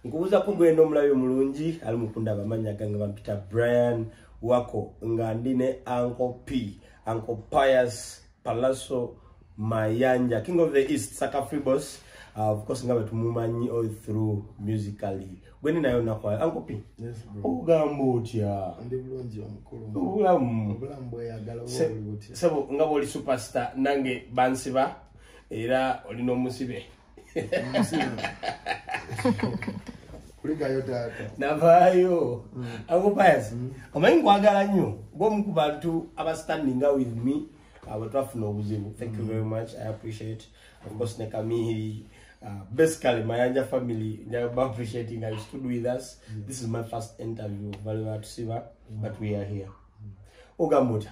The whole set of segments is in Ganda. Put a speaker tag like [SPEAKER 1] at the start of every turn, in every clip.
[SPEAKER 1] nkubuza ko gwena omulabi omulungi ali mukunda abamanya gange bampita brian wako nga ndi ne anko p anko pius palaso mayanja king of the east saka free boss uh, of course nga betumumanyi all through musically gwene nayo nakwala anko p ogamba
[SPEAKER 2] otya obulamu sebo nga bwoli
[SPEAKER 1] superstar nange bansiba era oli n'omusibe
[SPEAKER 2] kuligayo taata navaayo mm.
[SPEAKER 1] agobayas mm. omanyi nkwagala nnyo gwomu ku bantu abastandinga with me abo twafuna obuzibu thank you mm. very much i appreciate ofcourse ne kamihiri uh, basically mayanja family appreciating i stood with us this is my first interview valewatusiba but we are here ogamba otya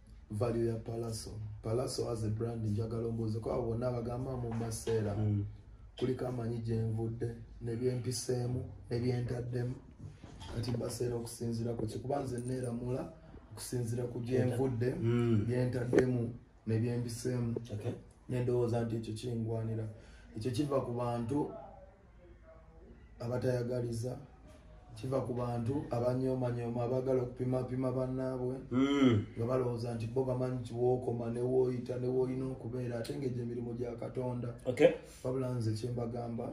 [SPEAKER 2] value ya palaso palaso as a brand njagala ombuuze ko abo bonna abagamba mu maseera mm. kuliko amanyi gyenvudde nebyempiseemu nebyentaddemu kati mbaseera okusinzira ku kikuba nze neeramula okusinzira ku gyenvudde mm. byentaddemu nebyempiseemu nendowooza nti ekyo kingwanira ekyo kiva ku bantu abatayagaliza kiva ku bantu abanyomanyooma abagala okupimapima banaabwe hmm. nga balowooza nti bo bamanyi kiwookoma newoyita newoolina okubeera ate nga egyo emirimu gya katonda wabula nze kyembagamba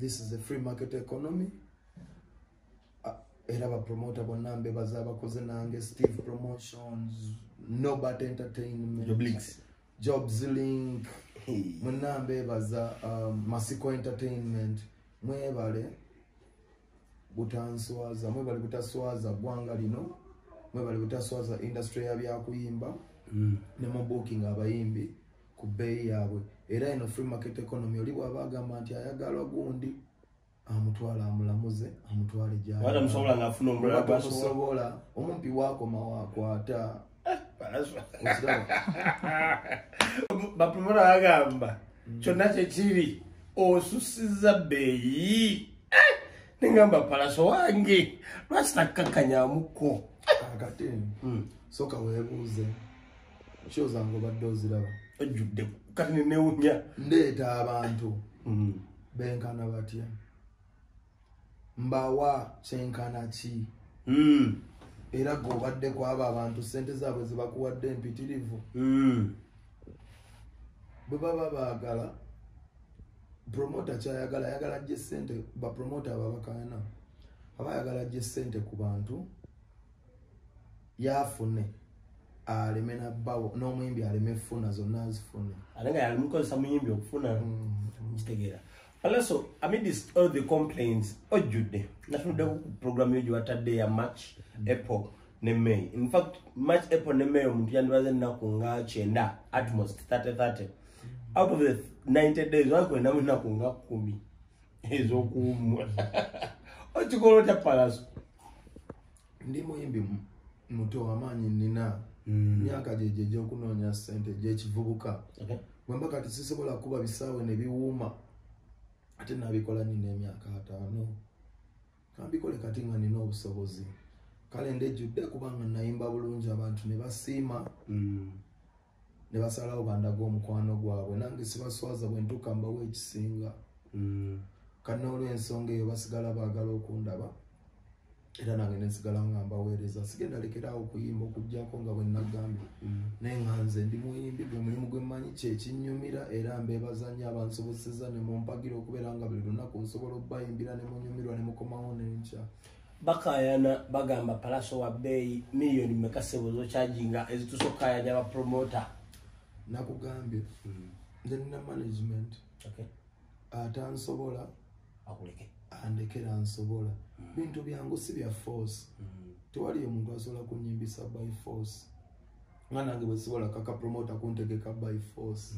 [SPEAKER 2] this is a free market economy era bapromota bonna mbebaza abakoze nange steve promotions nobat entertainment jobs link mwenna mbeebaza um, masiko entertainment mwebale butanswaza mwebale butaswaza ggwanga lino mwebale butaswaza industry ya byakuyimba mm. ne mu booking abayimbi ku bbeeyi yaabwe era eno free market economy oli bwaba agamba nti ayagala gundi amutwala amulamuze amutwale gyawala musobola nga afuna omulala
[SPEAKER 1] gwasobola
[SPEAKER 2] omumpi wakoma wakwata eh,
[SPEAKER 1] bapumula agamba mm. kyonna kyekiri osusiza beeyi eh, nengamba palaso wange lwaki takkakanyamuko kakati
[SPEAKER 2] mm. soka webuuze kyozanga obadde oziraba ojjudde
[SPEAKER 1] kati nenewunya ndeeta abantu
[SPEAKER 2] mm. benkana batya mbawa kyenkana ki hmm. era gwe obadde ku abo abantu sente zaabwe zebakuwadde empitirivu hmm. bwe baba baagala promota kyayagala ayagala jje sente bapromota ababakayana aba ayagala jje sente ku bantu yafune aleme nabbawo n'omuyimbi aleme funa zonna azifune ate nga yalimukozesa
[SPEAKER 1] muyimbi okufuna mm-hmm. kitegeera alaso amidist all the complaints ojjudde natunudde ku programu yo gyewatadde ya march mm-hmm. apple ne may infact march apple ne may omuntu yandibaze ennaku nga kyenda atmost 30 30 out of the 90 days wakwenamu ennaku nga kumi ezokuwumula okikola otya palaso
[SPEAKER 2] ndi muyimbi muto wamaanyi nina mm. myaka gyegyo egyokunoonya sente gyekivubuka bwemba kati sisobola kuba bisaawe nebiwuuma ate nabikola nina emyaka ataano kambikole kati nga nina obusobozi kale ndejjudde kubanga nayimba bulungi abantu nebasiima mm. ne basalawo bandaga omukwano gwabwe nange sibaswaza bwe ntuuka mbawo ekisinga mm. kanna olw'ensonga eyo basigala baagala okundaba era nange nensigala nga mbaweereza sigenda lekeraawo okuyimba okugyako nga bwe nagambye mm. naye nga nze ndi muyimbi gwe mulimu gwe mmanyi kyekinnyumira era mbeebazanyo abansoboseza ne mumpagira okubeera nga buli lunaku nsobola okubayimbira ne munyumirwa ne mukomawo nenkya bakayana
[SPEAKER 1] bagamba palaso wa bbeeyi miliyoni meka sebo zokyajinga ezitusa okukayanya abapromota nakugambye
[SPEAKER 2] hmm. nze nina management ate ansobola
[SPEAKER 1] andekera
[SPEAKER 2] ansobola hmm. bintu byangu si bya force hmm. tewali omuntu asobola kunyimbisa by force nga nange bwesobola kaka promota kuntegeka by force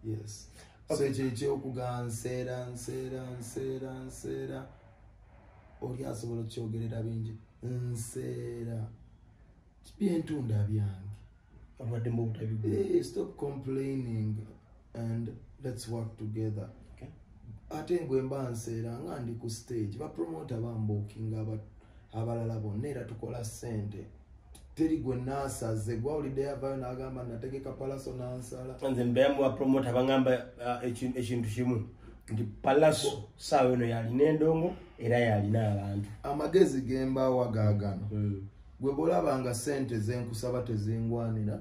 [SPEAKER 2] yes so ekyo ekyokuga nseera nseera nseera nseera oli asobola okyogerera bingi nseera byentunda byange abadde
[SPEAKER 1] mu butabi eh, stop
[SPEAKER 2] complaining and let's work together
[SPEAKER 1] ate ngwe
[SPEAKER 2] mba nseera nga ndi ku stage bapromota bambukinga abalala bonna era tukola ssente teri gwe nasaze gwawulidde yavayo nagamba nategeka palaso nansala nze mbeyamuwa promota
[SPEAKER 1] bangamba uh, ekintu kimu nti palaso saawa eno yalina endongo era yalina abantu amagezi gembawa
[SPEAKER 2] gagano hmm. gwe bwolabanga sente zenkusaba tezingwanira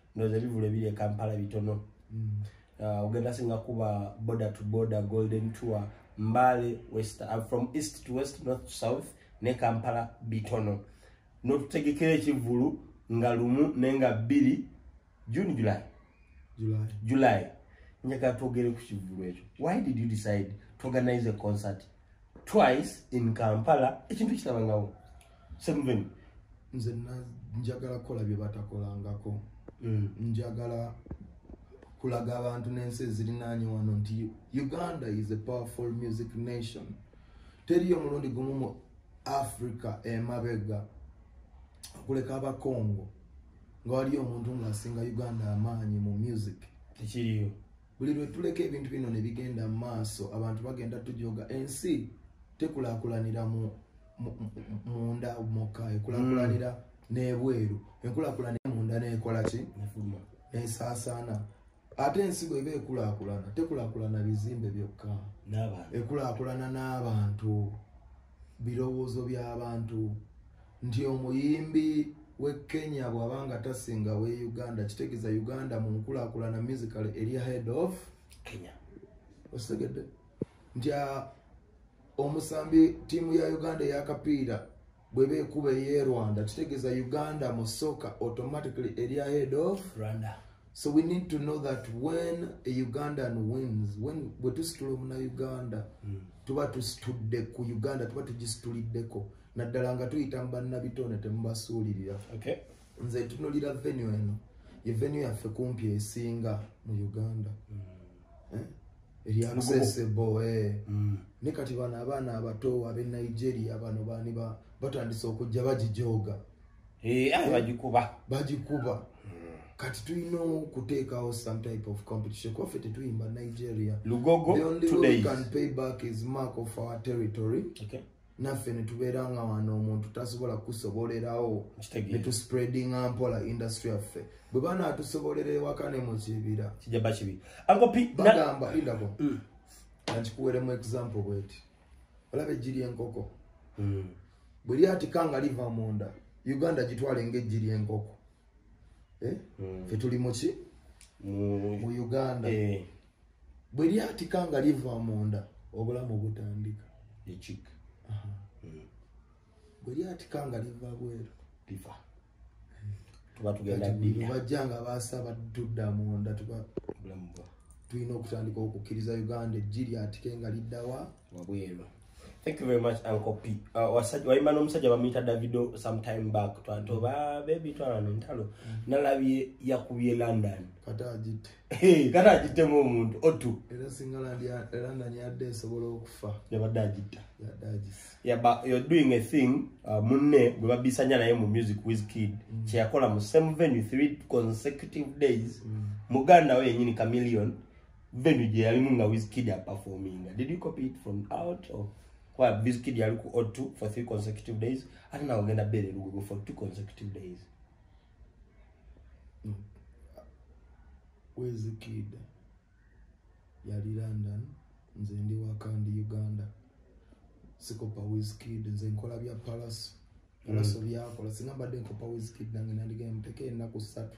[SPEAKER 1] ndoza ebivulu ebiri e kampala bitono mm. uh, ogenda singa kuba border to border golden tour mbale west uh, from east to west north to south ne kampala bitono notutegekera ekivulu nga lumu nenga bbiri june july july, july. njaka twogere ku kivulu ekyo why did you decide to organize a concert twice in kampala ekintu kitabangawo seven nze
[SPEAKER 2] njagala kukola bye batakolangako mm. njagala kulaga abantu n'ensi ezirinaanye wano nti uganda is a powerful music nation teriyo mulundi gumu mu africa emabega okuleka abakongo nga waliyo omuntu ng'asinga uganda amaanyi mu music tekiriyo
[SPEAKER 1] buli lwe tuleka
[SPEAKER 2] ebintu bino ne bigenda mu maaso abantu bagenda tujooga ensi tekulaakulanira munda mukka ekulakulanira mm. n'ebweru enkulakulanira munda nekola ki nesaasaana ate ensigo eba ekulakulana tekulakulana bizimbe byokka ekulakulana n'abantu birowoozo by'abantu nti omuyimbi w'e kenya bw'aba nga tasinga w'e uganda kitegeeza uganda mu nkulakulana musical eri head of kenya
[SPEAKER 1] okitegedde
[SPEAKER 2] nti omusambi tiimu ya uganda eyakapiira bweba ekuba eye rwanda kitegeeza uganda mu soka automatically eri ahead of rwanda so
[SPEAKER 1] we need to
[SPEAKER 2] know that when a ugandan wins when bwe tusitula omuna uganda mm. tuba tusitudde ku uganda tuba tugisituliddeko naddala nga tuyita mu bannabitone temubasuulirira okay.
[SPEAKER 1] nze tunulira
[SPEAKER 2] venue eno ye venue yaffe kumpi esinga mu uganda mm. eh? eryamusesebo eh. mm. ne kati bano abaana abato abe nigeria bano bani batandise okujja bagijooga eh, ah, bagikuba bagikuba hmm. kati tulina okuteekawo some type of competition kuba ffe tetuyimba nigeria lugogo the only
[SPEAKER 1] way we can
[SPEAKER 2] pay back is mark of our territory okay. naffe
[SPEAKER 1] netubeera
[SPEAKER 2] nga wano omuntu tasobola kusobolerawo netuspreadinga mpola industry yaffe bwe banaatusobolera ewaka ne mu kibira kijaba kibi
[SPEAKER 1] bagamba indako
[SPEAKER 2] mm. ankikuweremu example bweti olaba ejji lyenkoko hmm. bwe lyatika nga liva munda uganda gitwale nga ejji lyenkoko eh? hmm. fe tuli muki mu uganda eh. bwe lyatika nga liva munda obulamu butandika ekik
[SPEAKER 1] hmm.
[SPEAKER 2] bwe lyatika nga liva bweru
[SPEAKER 1] tuba tugenda bajja nga basaba
[SPEAKER 2] tudda munda tuba
[SPEAKER 1] tulina okutandika
[SPEAKER 2] okukkiriza uganda ejji lyatike nga liddawa wabweru
[SPEAKER 1] thank you very much uncle p uh, wayimba n'omusajja bamuyita davido sometime back twatoba mm. bebi twalana entalo mm. nalabye yakubye london kata agitte
[SPEAKER 2] kata agittemu
[SPEAKER 1] omuntu otu era singa
[SPEAKER 2] london yadde esobola okufa yabadde agitta
[SPEAKER 1] yadde agisa Yeah,
[SPEAKER 2] but you're doing
[SPEAKER 1] a thing uh, munne gwe babisanya naye mu music with kid mm. kyeyakola mu same venue three consecutive days mm. muganda we yenyini chameleon venue gye yalimu nga with kid aperforminga did you copy it from out or kwa with kid yali ku o2 for three consecutive days ate nawe ogenda bere lugogo for two consecutive days
[SPEAKER 2] mm. where's the kid yali london nze ndi waka ndi uganda sikopa wiskid nze nkola bya palaso palaso mm. byakola singa mbadde nkopa wiskid nange nandigenda muteke ennaku ssatu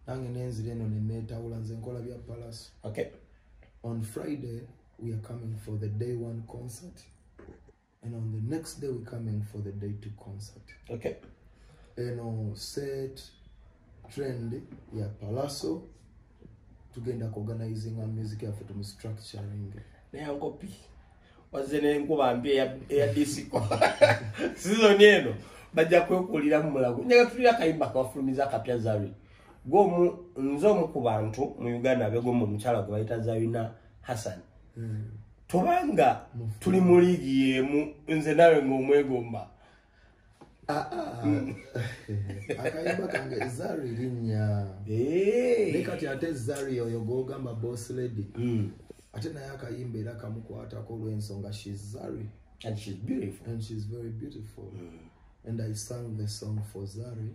[SPEAKER 2] nange nenzira eno nenetawula nze nkola bya palaso okay.
[SPEAKER 1] on
[SPEAKER 2] friday we are coming for the day one concert and on the next day we're coming for the day to concert okay
[SPEAKER 1] and on
[SPEAKER 2] set trend ya palaso tugenda ku organizing a music yaffe tumu structuring naye ankopi
[SPEAKER 1] wazze nenkuba mbi eya disiko sizoni eno bajja kwekulira mu mulago njaga tulira kayimba kawafulumiza akapya zari gwomu nze omu ku bantu mu uganda begomba omukyala gwe bayita zarina Hassan mm. tobanga tuli mu liigi yemu nze nawe ngaomwegomba ah, ah.
[SPEAKER 2] mm. akayimba kange zari linya ne kati ate zari oyo gogamba boss lady mm. ate naye akayimba era kamukwatako olwensonga shes zari and she's beautiful
[SPEAKER 1] and she's very beautiful
[SPEAKER 2] mm. and i sang the song for zari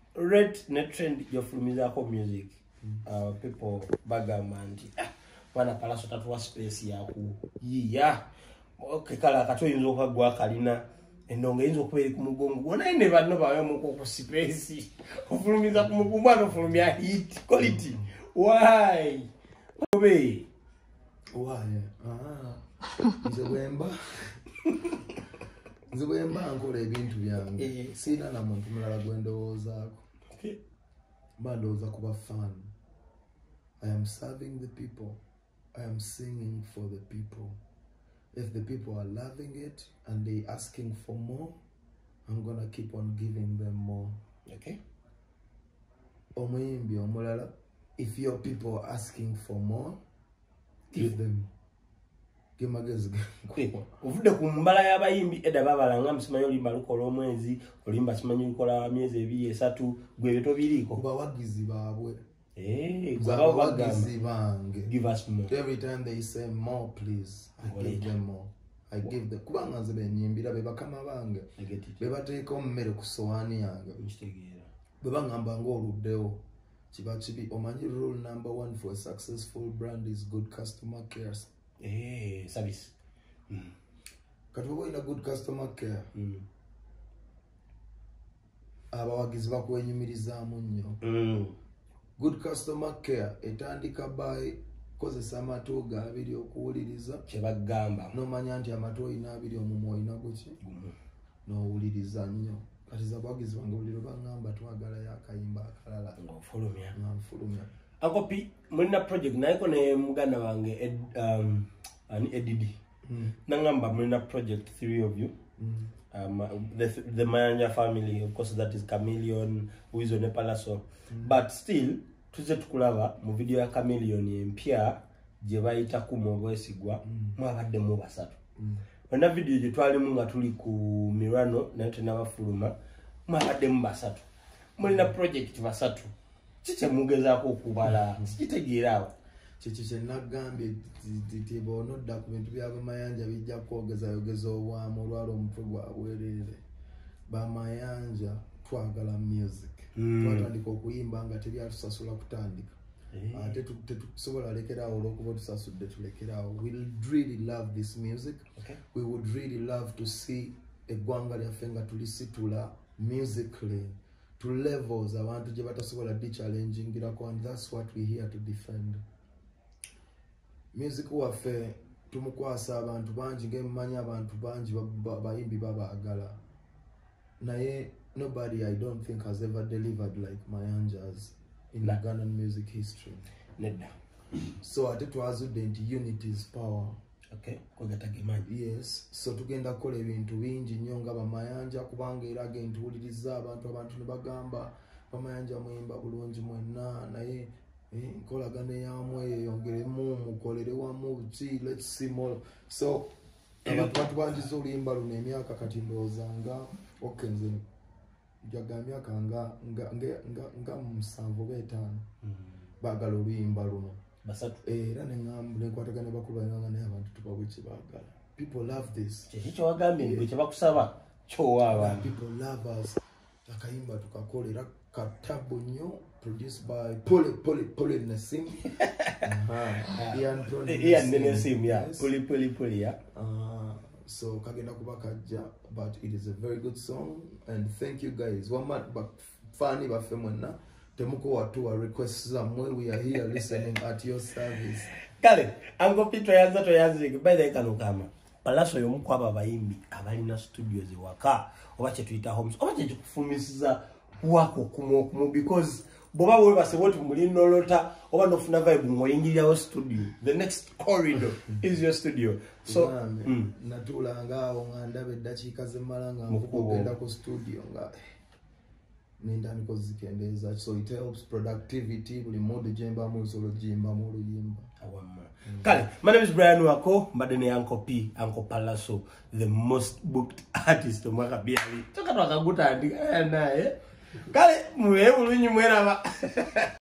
[SPEAKER 1] rate ne trend gyofulumizako music uh, people bagamba nti ah, mwana kalaso tatuwa space yakuyiya okay, kala kati oyinza okagwa kalina endongo eyinza okuba eri ku mugongo gwonaye ne banno bawemuku ku space ofulumiza ku mugungu ano ofulumya hit quality why obe owaye
[SPEAKER 2] ah. nze bwemba nze bwemba nkola ebintu byange eh. siina na muntu mulala gwe ndowoozaako mba ndowooza kuba fan i am serving the people i am singing for the people if the people are loving it and they asking for more i'm gonna keep on giving them more okay
[SPEAKER 1] omuyimbi
[SPEAKER 2] omulala if your people are asking for more give them gemagezi
[SPEAKER 1] ovudde ku mbala y'abayimbi edda babala nga musimanyi olimba lukola omwezi olimba simanyi lukola myezi ebiri esatu gwebyo tobiriiko bawagizi baabwe
[SPEAKER 2] Eh,
[SPEAKER 1] gwe abawo
[SPEAKER 2] bagambakubanga nze benyimbira bebakama bange bebateeka omumere ku sowaani yange bwebangamba nga oluddewo kiba kibi omanyi rule number one for a successful brand is good customer care eh, service
[SPEAKER 1] mm.
[SPEAKER 2] kati oba olina good customer care mm. abawagizi bakwenyumirizaamu nnyo mm. good customer care etandika by kozesa amatu ga abiri okuwuliriza kyebagamba
[SPEAKER 1] nomanya nti amatu
[SPEAKER 2] olina abiri omumwa olina guki nowuliriza nnyo kati zabawagizi bange buli lwebangamba twagala yakayimba akalala ngaofulumya nga nfulumya akopi
[SPEAKER 1] mulina project nayeko ne muganda wange um, edidi mm. nangamba mulina project three of you mm. um, the, the mayanja family of course that is chameleon wizo ne palaso mm. but still tuze tukulaba mu video ya chameleon empya gye bayita kuma obwesigwa mm. mwabadde mu basatu mm. onna video gye twalimu nga tuli ku mirano naye tenabafuluma mwabadde mu basatu mulina mm. project basatu ki kyemugezaako okubala sikitegeera awo kyekyo
[SPEAKER 2] kyenagambye ti bonodda ku bintu byabamayanja bijja kwogezayogeza obwamu olwala omutwe gwabwerere bamayanja twagala music hmm. twatandika okuyimba nga teri atusasula kutandika eh. ah, ate tetusobola lekeraawo olwokuba otusasudde tulekeraawo will really love this music we would really love to see eggwanga lyaffe nga tulisitula musically to levels abantu gye batasobola di challengingirako and that's what we here to defend music waffe tumukwasa abantu bangi ngemumanyi abantu bangi bayimbi babaagala naye nobody i don't think has ever delivered like mayanjas in ugandan music history nedda
[SPEAKER 1] so
[SPEAKER 2] ate twazudde nti unity is power okay kwegata
[SPEAKER 1] gemanyi yes so
[SPEAKER 2] tugenda kola ebintu bingi nyo nga bamayanja kubanga era agenti uliriza abantu abantu ne bagamba bamayanja muyimba bulungi mwenna naye eh, nkolagana eyamwe yeyongeremu mukolere wamu ki let's see more so abantu batubanjiza oluyimba luno emyaka kati ndowooza nga okay nzeni ja ga myaka nga nga nga nga nga musanvu oba etaano mm. baagala oluyimba luno basatu era ne
[SPEAKER 1] ŋambu ne
[SPEAKER 2] nkwatagana bakulu bananga naye abantu tubawe
[SPEAKER 1] kye
[SPEAKER 2] baagala
[SPEAKER 1] people
[SPEAKER 2] love this kyeki kye wagambye
[SPEAKER 1] nti
[SPEAKER 2] kye bakusaba kyowa
[SPEAKER 1] abantu people love
[SPEAKER 2] us akayimba tukakole era katabu nnyo Produced by Pole Pole Pole Nassim. uh-huh. Ian
[SPEAKER 1] Pole Ian Nassim, yeah. Yes. Pole Pole Pole, yeah. Uh, so
[SPEAKER 2] kagenda kuba kajja but it is a very good song and thank you guys wama bafani baffe mwenna temukowa tuwa request zamwe we are here listening at your service kale
[SPEAKER 1] ango pito yaza to yazi by the kano kama palaso y'omu ku abo abayimbi abalina studios ewaka oba kye tuyita homes oba kye kikufuumisiza wako okumu okumu because bwoba webase woti muli nolota oba nofuna vibe ng'oyingirirawo studio the next corridor is your studio so mm.
[SPEAKER 2] natuulangaawo nga ndaba eddakiika zemmala nga nkugenda ku studio nga eh, nendandika ozikendeeza so it helps productivity buli mood gyembamu nsobola ogiyimbamu oluyimba awamu mm.
[SPEAKER 1] kale my name is brian wako mbadde ne anko p anko palaso the most booked artist omwaka byali toka twakagutandika naye kale mubeebulunyi mweraba